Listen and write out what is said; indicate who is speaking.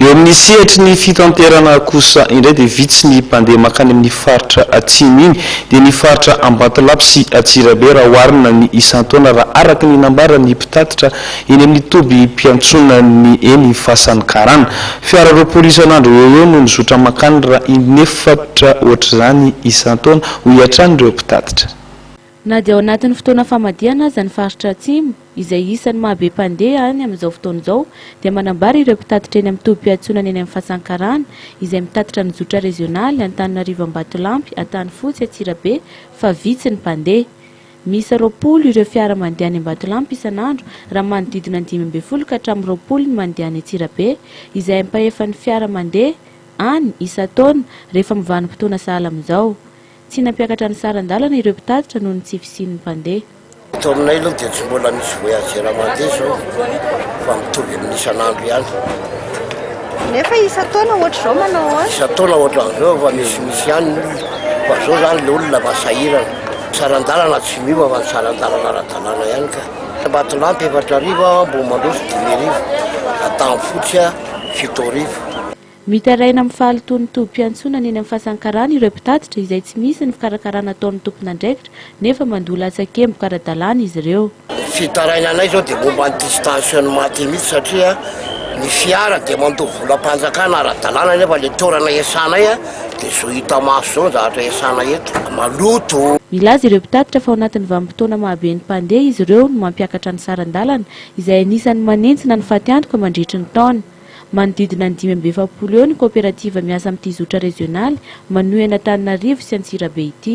Speaker 1: Eo amin'ny sehatry ny fitanterana kosa indray dia vitsy ny mpandeha mankany amin'ny faritra atsimo iny dia ny faritra Ambatolampy sy Antsirabe raha oharina ny isan-taona raha araka ny nambaran'ny mpitatitra eny amin'ny tobim-piantsonan'ny eny Fasan'ny Karana. Fiara roapolo isan'andro eo ho eo no mizotra mankany raha inefatra ohatr'izany isan-taona hoy hatrany ireo mpitatitra. Na dia ao
Speaker 2: anatin'ny fotoana famadihana aza ny faritra Atsimo, izay isan'ny maha be mpandeha any amin'izao fotoana izao, dia manambara ireo mpitatitra eny amin'ny tobim-piantsonana eny amin'ny Fasankarana, izay mitatitra ny zotra rezionaly Antananarivo Ambatolampy, Antanifotsy, Antsirabe, fa vitsy ny mpandeha. Miisa roapolo ireo fiara mandeha any Ambatolampy isan'andro, raha manodidina ny dimy ambin'ny folo ka hatramin'ny roapolo ny mandeha any Antsirabe, izay ampahefan'ny fiara mandeha any isan-taona, rehefa mivanim-potoana sahala amin'izao. Tsy nampiakatra ny saran-dalana ireo mpitatitra noho ny tsy fisian'ny mpandeha. Eto aminay aloha
Speaker 3: dia tsy mbola misy voyageur mandeha izao fa mitovy amin'ny isan'andro ihany.
Speaker 4: Nefa isan-taona ohatr'izao manao ahoana? Isan-taona ohatr'izao efa
Speaker 3: misimisy ihany ny olona fa izao izany ilay olona efa sahirana. Ny saran-dalana tsy miova fa ny saran-dalana ara-dalàna ihany ka. Ambatolampy efatra arivo, Ambohimandroso dimy arivo, Antanimpotsy fito arivo. Mitaraina
Speaker 2: amin'ny fahalotoan'ny tobim-piantsonana eny amin'ny Fasan'ny Karana ireo mpitatitra izay tsy misy ny fikarakarana ataon'ny tompon'andraikitra nefa mandoa latsakemboka ara-dalàna izy ireo. Ny fitarainanay
Speaker 3: izao dia momba an'ity stationnement ity mihitsy satria ny fiara dia mandoa volam-panjakana ara-dalàna nefa ilay toerana iasanay dia zo hita maso izao ny zavatra iasana eto, maloto. Milaza ireo mpitatitra
Speaker 2: fa ao anatin'ny vanim-potoana mahabe ny mpandeha izy ireo no mampiakatra ny saran-dalana izay anisan'ny manentsina ny fatiantoka mandritry ny taona. Manodidina ny dimy amby efapolo eo ny kaoperativa miasa amin'ity zotra rezionaly manohy an'Antananarivo sy Antsirabe ity.